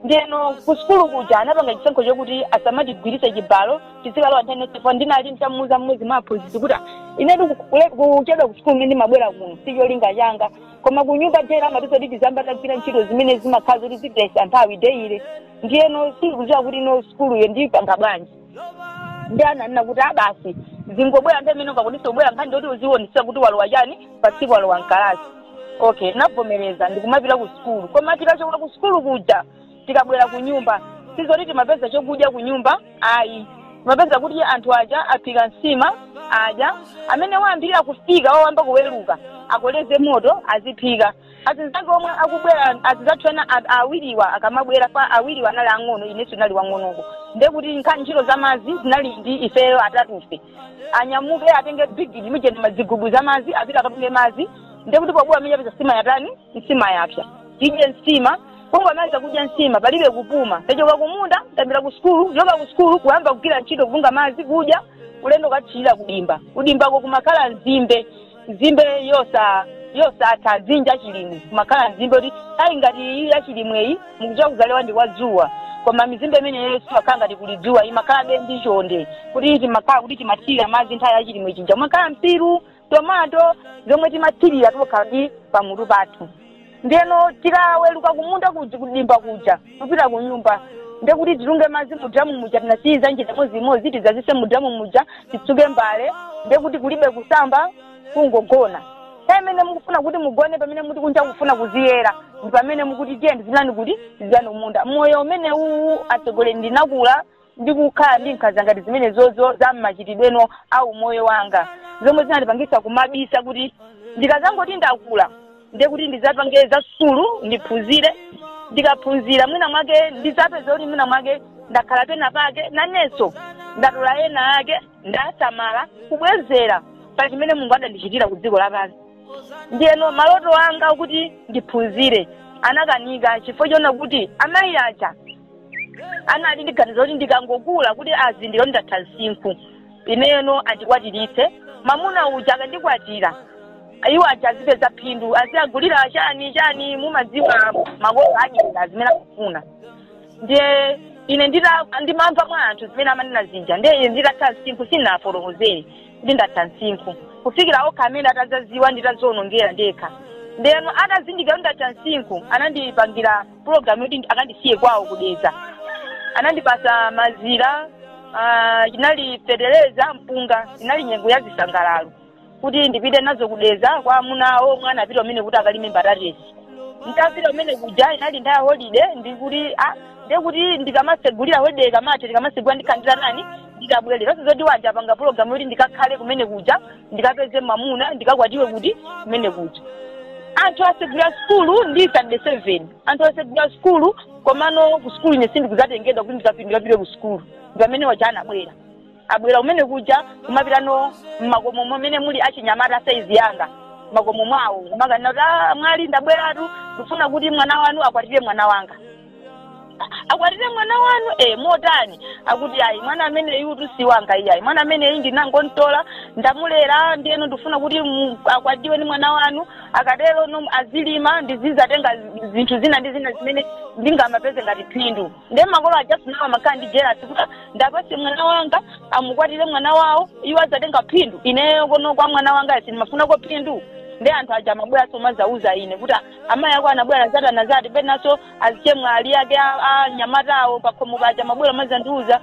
ndiyeno ku sukulu kuja anapanga chisankho chokuti asamatigwiritse chibalo tizikalowa nthawi yonse for ndinali nditamuuza mmodzi mwa aphunzitsi kuti "Ah, inetu ku- kule- kuchedwa ku sukulu mmene ndimabwera kuno si cholinga changa koma ku nyumba chabe amatiuza kuti tiziyamba tagwira ntchito zimene zimakhala zoti zipitsa nthawi deyile ndiyeno sindikudziwa kuti no sukuluyo ndiyipanga bwanji ndi ananena kuti ah basi uzingobwera nthawi imene ukakwanitse kubwera nkhani ndoti uziwonesa kuti walowa chani pa tsiku walowa mkalasi okay ndavomereza ndikumapita ku sukulu koma tikachoka ku sukulu kuja tikabwera ku nyumba sizoti timapeza chokudya ku nyumba ayi timapeza kuti anthu aja aphika nsima adya amene wayambirira kufika wawamba kuweruka akoleze moto aziphika azinzake omwe akubwera azizathu ena a- awiriwa akamabwera pa- awiriwa anali ang'ono inenso ndinali wang'onoko nde kuti nkhani ntchito za madzi zinali ndi ifeyo atatufe anyamuke atenge bigidi mijeni mazigubu za madzi apite akatunge madzi nde kuti pobwera muja apeza nsima yatani nsima yapsa tidye nsima kungomaliza kudya nsima palibe kupuma tachoka kumunda tapita ku sukulu kuchoka ku sukulu kuyamba kugwira ntchito kutunga madzi kudya ulendo ukathirira kudimba kudimbako kumakhala nzimbe nzimbe yosa yosatha dzinja chilimwe kumakhala nzimbe kuti ayi ngati iyi ya chilimweyi mukuchita kuzalewa ndi kwa dzuwa koma mizimbe imeneyo simakhala ngati kuli dzuwa imakhalabe ndi chonde kuti timakhala kuti timathirira madzi nthawi ya chilimwe chija kumakhala mpiru tomato zomwe timathirira tokha ndi pamutu pathu ndiyeno tikaweluka kumunda kuj- kudimba kuja kupita kunyumba ndekuti titunge madzi mudramu muja tinasiyiza jiza imodzi imodzi tidzazise mudramu muja titsuke mbale ndekuti kulibe kusamba kungogona nthawi imene mukufuna kuti mugone pamene muti kunja kufuna kuziyera ndi pamene mukuti tiye ndizilani kuti tizilani kumunda moyo umene uwu atsogoleri ndinakula ndi kukhala ndi nkhanza ngati zimenezo za mmachitidweno a umoyo wanga zomwe zinandipangisa kumaganiza kuti ndikazangoti ndakula ndiye kuti ndizapange za sukulu ndiphunzire ndikaphunzira mwina mwake ndizapeza kuti mwina mwake ndakhala pena pake nanenso ndatola ena ake ndasamala kubwezera pa chimene mulungu adandichitira ku dziko lapansi ndiyeno maloto anga kuti ndiphunzire anakanika chifukwa chonena kuti amayi aja anali ndi ganizo kuti ndikangokula kuti azindikire kuti ndatha msinkhu ineyo no andikwatiritse mamuna uja akandikwatira iwo aja azipeza phindu aziwagulira chani chani mumadziwa makolo adyera zimene akufuna ndiye ine ndita ndimamva mwa anthu zimene amanena zija ndiye ine nditatha msinkhu sindinafotokozere kuti ndatha msinkhu kufikira okha amene atazaziwa nditazionongera ndekha ndeno atazindikira kuti ndatha msinkhu anandipangira pulogalamu yoti ndi- akandisiye kwawo kudeza anandipasa mazira ah, inali fetereza mpunga inali nyengo ya zisangalalo kuti ndipite nazo kudeza kwa amuna awo omwe anapita kumeneko kuti akalime mbatatesi nditapita kumene kuja inali nthawi ya holide ndikuti ah, ndekuti ndikamasegulira holide ikamatha tikamasegulira ndikhala kuti nditani nditabwerera zoti aja apanga pulogalamu yoti ndikakhale kumene kuja ndikapeze mamuna ndikakwatiwe kuti kumene kuja anthu asegula sukulu ndi sitandade seven anthu asegula sukulu komano ku sukulu ine sindikuzatengedwa kuti ndikapindikapire ku sukulu ndi pamene aja anabwera abwera kumene kuja kumapitano mmakomo momene muli achinyamata saizi yanga makomo mwawo kumakanena kuti "Ah, mwali ndabweratu ndifuna kuti mwana wanu akwatire mwana wanga A- akwatire mwana wanu e motani akuti ayi mwana ameneyutu si wanga iyayi mwana ameneyi ndinangontola ndamulera ndiyeno ndifuna kuti mu- akwatiwe ni mwana wanu akatero no azilima ndizizatenga zi- zinthu zina ndi zina zimene ndingamapeze ngati phindu nde makolo aja si nawo amakhala ndi jelasi kuti ndiwapase mwana wanga amukwatire mwana wawo iwo azatenga phindu ineyo kuno kwa mwana wanga sindimafunako phindu nde anthu aja amabwera nkumazauza ine kuti amayi ako anabwera zatana zati penaso azichemwali ake a anyamatawo pakhomo paja mabwera mazandiuza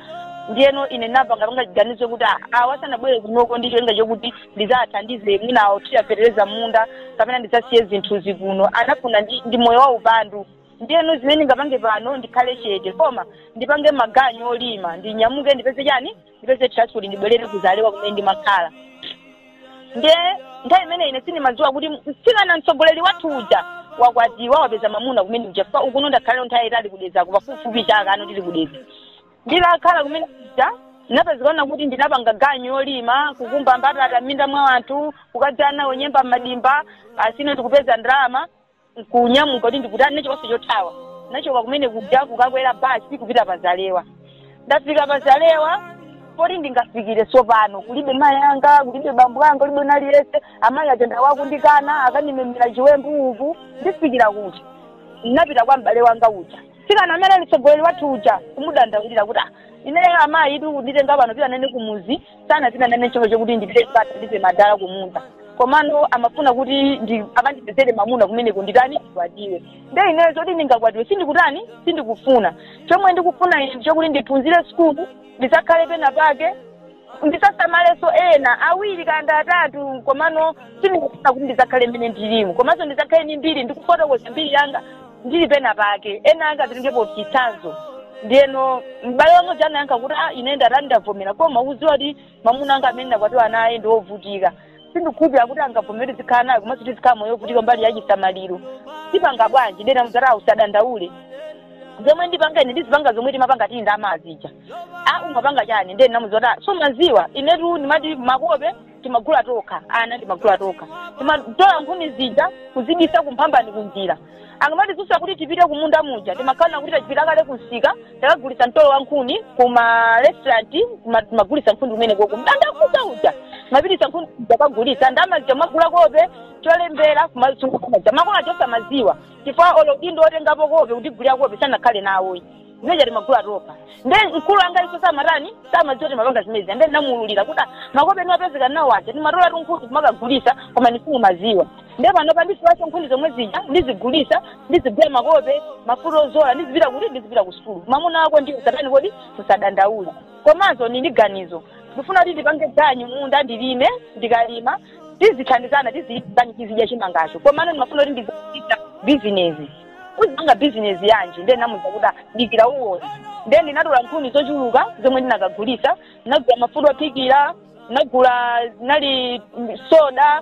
ndiyeno ine napangapanga chiganizo kuti ah, awa sanabwere kunoko ndi cholinga chokuti ndizathandize mwina awo tiyapetereza munda kapena ndizasiye zinthuzi kuno anafuna ndi, ndi moyo wa upandu ndiyeno zimene ndingapange pano ndikhale chete koma ndipange maganyu olima ndinyamuke ndipeze chani ndipeze transport ndibwerere kuzalewa kumene ndimakhala ndiye nthawi imene ine sindimadziwa kuti mtsikana mtsogoleri wathu uja wakwatiwa wapeza mamuna kumene kuja ukuno ndakhalira nthawi yaitali ku Dedzako pafupifupi chaka ndili ku Dedza nditakhala kumene kuja ndinapezekana kuti ndinapanga ganyu yolima kukumba mbatata m'minda mwa anthu kukadzala nyemba m'madimba basi ine ndikupeza ndalama nkunyamuka kuti ndikutani chikonso chothawa nachoka kumene kuja kukakwera basi kupita pa zalewa ndafika pa zalewa poti ndingafikire tsopano kulibe mayi anga kulibe bambo anga kulibe naliyense amayi aja nde akundikana akanimemera chiwembu uku ndifikira kuti ndinapita kwa m'bale wanga uja mtsikana amene ali mtsogoleri wathu uja kumudandaulira kuti "Ah, ineyo amayi itu nditenga pano pita nane kumuzi sanapita nane chifukwa chokuti ndipite ndikathandize madala kumunda komano amafuna kuti akandipezere mamuna kumeneko nditani ndikwatiwe nde ineyo zoti ndingakwatiwe sindikutani sindikufuna chomwe ndikufuna ine nchokuti ndiphunzire sukulu ndizakhale pena pake ndizasamalenso ena awiri kaya atatu komano sindikufuna kuti ndizakhale mmene ndilimu komanso ndizakhale ni mbiri ndikufotokoza mbiri yanga ndili pena pake ena anga azitengapo chitsanzo ndiyeno m'bale wanga uja anayankha kuti a ine ndatani ndavomera koma uziwe kuti mamuna anga amene ndakwatiwa naye ndi wovutika sindikhulupira kuti angavomere tizikhala nawe komanso tizikhala moyo wovutika mbali ya chisamaliro tipanga bwanji nde namuuza kuti usadandaule zomwe ndipanga ine ndizipanga zomwe timapanga tili ndi amayi zija umapanga chani ndiyeno namuuza kuti sumaziwa inetu ndimati makope timagula tokha ana timagula tokha timatola nkhuni zija kuzibisa kumphambano kunjira akamatizusa kuti tipite kumunda muja timakhala kuti tapita kale kumsika takagulitsa mtolo wa nkhuni kuma restaurant timagulitsa nkhuni kumene koko m'bandakucha uja mapitisa nkhuni zija kagulitsa ndalama zija kumagula kope cholembera kumasungitsa makolo osamaziwa chifukwa olo udindo otengapo kope kutigulira kope sanakhale nawo zimene zija timagula tokha nde mkulu wanga inuso simatani samadziwa timapanga zimenezi nde ndinamuululira kuti makope ndimapezeka nawo aja timatola tunkhuni kumakagulisa koma inu simumaziwa nde panopa ndiziwaza nkhuni zomwe zija ndizigulisa ndizigula makope mafuta ozola ndizipita kuti ndizipita ku sukulu mamuna wako ndiye usatani kodi usadandaule komanso ndili ndi ganizo ndifuna kuti ndipange ganyu munda ndilime ndikalima tizithandizana tizitani tizidya chimangacho komano ndimafuna kuti ndizichita bizinesi uzipanga bizinesi yanji ndiye ndinamuza kuti ah dikira uwona ndiye ndinatola nkhuni zochuluka zomwe ndinakagulisa ndinagula mafuta ophikira ndinagula zinali mm, soda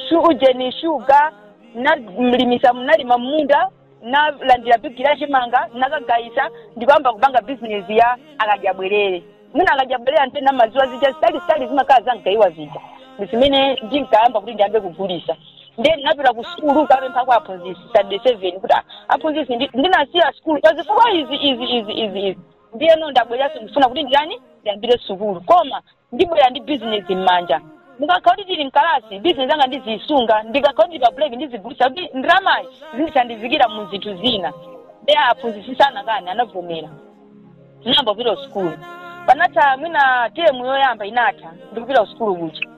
shu- ujeni shuga ndinalimisa ndinalima mmunda ndinalandira bigiri ya chimanga ndinakagayisa ndikuyamba kupanga bizinesi ya akadyabwerere mwina akadyabwerere mwina mumaziwa zija zitali zitali zimakhala za mgayiwa zija zimene ndinkayamba kuti ndiyambe kugulisa ndiye ndinapita ku sukulu kapempha kwa aphunzisi sitandade seven kuti "Ah, aphunzisi ndi- ndinasiya sukulu pa zifukwa izi izi izi izi izi ndiyeno ndabweranso ndifuna kuti ndi- ndiyambire sukulu koma ndibwera ndi bizinesi m'manja ndikakhala kuti tili mkalasi bizinesi anga ndiziyisunga ndikakhala kuti pa break ndizigulisa kuti ndalamayi izindithandizira mu zinthu zina ndiye aphunzisi sanakani anavomera ndinayamba kupita kusukulu panatha mwina temu yoyamba inatha ndikupita kusukulu kuja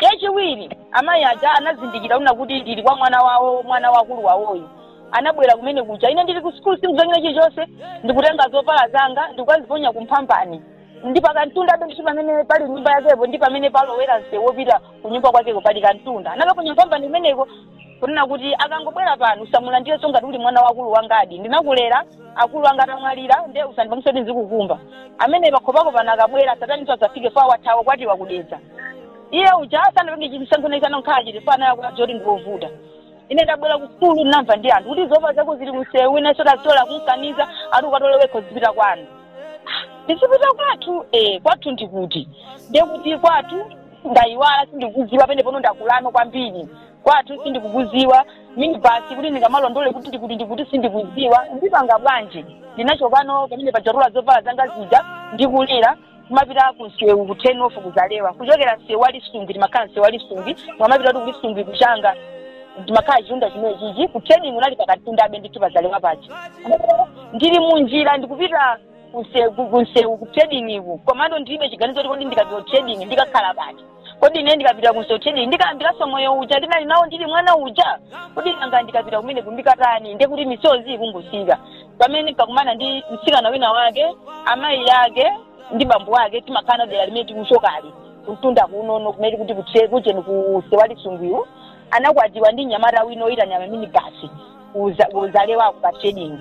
yachiwiri amayi aja anazindikira una kuti ndili kwa mwana wawo mwana wa akulu wawoyo anabwera kumene kuja ine ndili ku sukulu sindikuziwa chilichonse ndikutenga zovala zanga ndikukaziponya kumphambani ndi pakantundabe ndithu pamene pali nyumba yakepo ndi pamene palowera msewu wopita ku nyumba kwakeko pali kantunda anakaponya kumphambani kumeneko kunena kuti akangobwera pano usamulandirenso ngati uli mwana wa akulu angadi ndinakulera akulu anga atamwalira nde usandipangise kuti ndizikukumba mene pakhopako pano akabwera sataninso asafike poti wathawa kwathu wakudedza iye uja sanapenge chisankho naye sanakhala chiti fo anaya kuti adzoti ndiovuta ine ndabwera kusukulu ndinamva ndi anthu kuti zovala zako zili kumsewu inenso ndatola kundikaniza ati ukatole wekho uzipita kwanu ndizipita kwathu eh kwathu ndikuti ndekuti kwathu ndayiwala sindikuziwa pamene pano ndakulano kwambiri kwathu sindikukuziwa mini basi kuti ndingakalondole kuti ndikuti ndikuti sindikuziwa ndipanga bwanji ndinachokano pamene paja nditatola zovala zanga zija ndikulira kumapita ku msewu ku turn off ku Zalewa kuchokera msewu wa Lisungwi timakhala msewu wa Lisungwi amapita kuti ku Lisungwi kuchanga timakhala chitunda chimene chichi ku trading kunali pakantundabe ndithu pa Zalewa paja ndili munjira ndikupita kuse- ku- kunsewu ku trading iku komano ndilibe chiganizo kuti kodi ndikapita ku trading ndikakhala pati kodi ine ndikapita kunsewu trading ndikayambiranso moyo uja ndinali nawo ndili mwana uja kodi nanga ndikapita kumeneku ndikatani ndiye kuti misozi ikungotsika pamenepa kukumana ndi mtsikana wina wake amayi ake ndi bambo ake timakhala dera limene tikuchokali kuntunda kunono kumene kuti kutse kucheni kunsewu wa Lisungwiwu anakwatiwa ndi mnyamata wina oyitanira maminibasi ku Zalewaku pa trading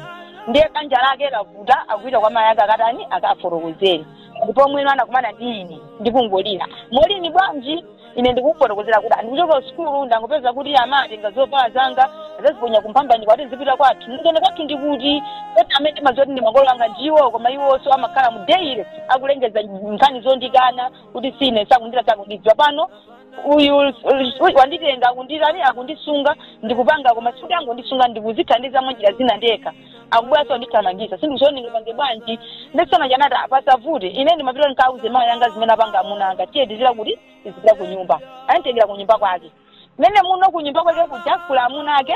ndiye banja lake lavuta akupita kwa mayi ake akatani akafotokozere ndi pomwe no anakumana ndi ine ndikungolira Molini bwanji ine ndikufotokozera kuti ndikuchoka ku sukulu ndangopeza kuti amayi atenga zovala zanga azaziponya kumphambani akuti ndizipita kwathu ndiye kwathu ndikuti kuti amene ndimaziwa zoti ndi makolo anga ndiwo koma iwonso amakhala mudayale akulengeza nkhani zondikana kuti ine sakundira sakundiziwa pano uyu uyu wanditenga akundirani akundisunga ndikupanga koma sikuti angondisunga ndikuzithandiza mwanjira zina ndekha akubweraso ndithamangisa sindikuziwa ndingapange bwanji ndiye nsikana uja anati a pasavute ine ndimati ndipita ndikauze mayi anga zimene apanga amuna anga tiye tizipita kuti tizipita ku nyumba ananditengera ku nyumba kwake momwemuno ku nyumba kwake kuja kuli amuna ake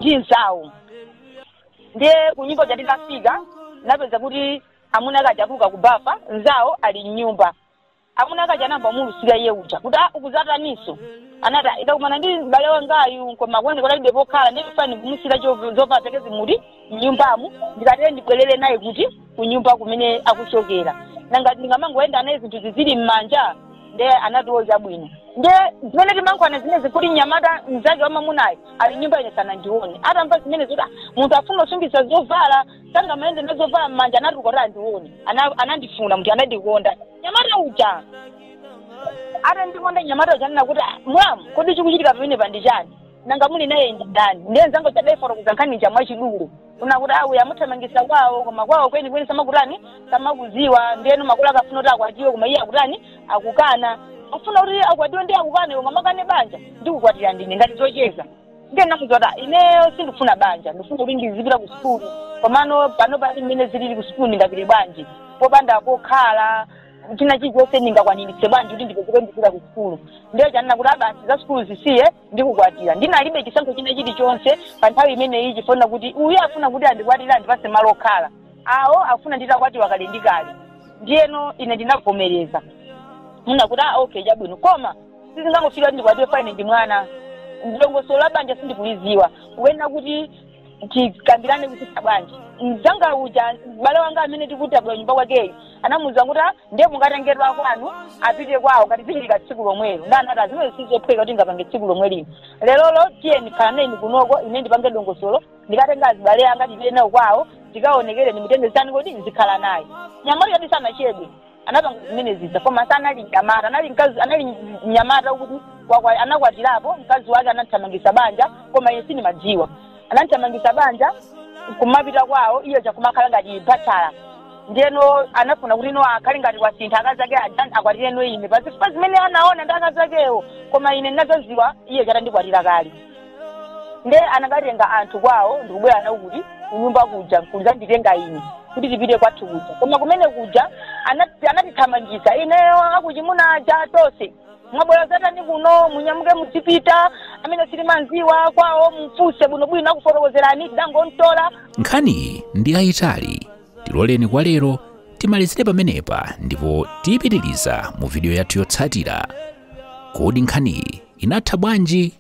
ndi nzawo ndiye ku nyumba kuja titafika napeza kuti Amuna ake aja atuluka ku bafa, mnzawo ali m'nyumba. Amuna ake aja anayamba kumulusira iye uja kuti, a, ukuzataniso? Anati, a, ndakumana ndi m'bale wangayu koma akuoneka kuti alibe pokhala ndiye ndifuna ndikumusiire chov- zovala zake zimenezi m'nyumbamu ndikatere ndibwerere naye kuti ku nyumba kumene akuchokera. Nanga ndingamangoyenda naye zinthu zizili m'manja? Ndiye anati o chabwino. Ndiye zimene timalankhulana zimenezi kuti mnyamata mnzake wamamunayo ali m'nyumba ine sanandione. Atamva zimene zoti "Ah, munthu afuna kusungitsa zovala asangamayende nazovala m'manja anatuluka kuti andione Ana- anandifuna munthu anandikonda nyamata uja atandikonda nyamata uja ananena kuti "Ah, mulamu kodi chikuchitika pamenepa ndi chani nanga muli naye ndani ndiye nzanga uja adaifotokoza nkhani ija mwachidule kunena kuti uyu amuthamangisa kwawo koma kwawo kweni kweni samakutani samakuziwa ndiyeno makolo akufuna kuti akwatiwe koma iye akutani akukana safuna kuti akwatiwe ndiye akukana iwe ungamakane banja ndikukwatira ndi ine ngati zocheza ndiye namuza kuti ineyo sindifuna banja ndifuna kuti ndizipita ku sukulu komano panopa ndi mmene zilili ku sukulu ndingapite bwanji popanda pokhala china chilichonse ndingakwaniritse bwanji kuti ndipezeke ndipita ku sukulu ndiye uja ananena kuti a basi za sukulu zisiye ndikukwatira ndinalibe chisankho china chilichonse pa nthawi imeneyi chifukwa kuti uyu afuna kuti andikwatire andipase malo okhala awo afuna nditakwatiwa kale ndi kale ndiyeno ine ndinavomereza kunena kuti ah okay chabwino koma sizingangotheka kuti ndikwatiwe pa ine ndi mwana dongosolo la banja sindikuliziwa kuyenera kuti tikambirane kuti sibanja mzanga uja m'bale wanga amene tikuti tabwera kunyumba kwakeyo anamuuza kuti "Ah, ndiye mukatengedwe kwanu apite kwawo ngati zichitike tsiku lomwelo ndiye anati a zimenezo sizophweka kuti ndingapange tsiku lomwe lino lerolo tiyeni khalanayeni kunoko ine ndipange dongosolo ndikatenge azibale anga ndipite nawo kwawo tikaonekere ndimutengeretu kuti ndizikhala naye nyamata ujadi sanachedwe anapanga zimene zija koma sanali mnyamata anali mnyamata woti wakwa- anakwatirapo mkazi wake anamthamangisa banja koma ine sindimadziwa anamthamangisa banja kumapita kwawo iye uja kumakhala ngati bachala ndiyeno anafuna kuti no akhale ngati wasintha akazi ake aja akwatire no ine pazifukwa zimene anaona ndi akazi akewo koma ine ndinazaziwa iye uja atandikwatira kale nde anakatenga anthu kwawo ndikubwera nawo kuti kunyumba kuja kudzanditenga ine kuti tipite kwathu kuja koma kumene kuja anati- anatithamangitsa ineyo akuchimuna aja tonse mwabwera zatani kuno munyamuke mudzipita amene simumamudziwa kwawo mfunse bwinobwino akufotokozerani tidangomtola nkhaniyi ndi yayitali tiloleni kwa lero timalizire pamenepa ndipo tiyipitiriza mu vidiyo yathu yotsatira kodi nkhaniyi inatha bwanji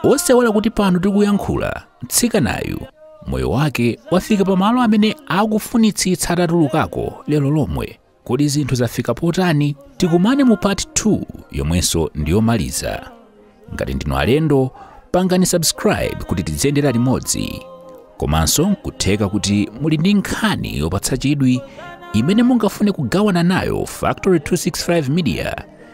osaiwala kuti pano tikuyankhula mtsikanayu moyo wake wafika pamalo amene akufunitsitsa atatulukako lero lomwe kodi zinthu zafika potani tikumane mu part 2 yomwenso ndiyomaliza ngati ndinu alendo pangani subscribe kuti tiziyendera limodzi komanso nkutheka kuti muli ndi nkhani yopatsa chidwi imene mungafune kugawana nayo factory 265 media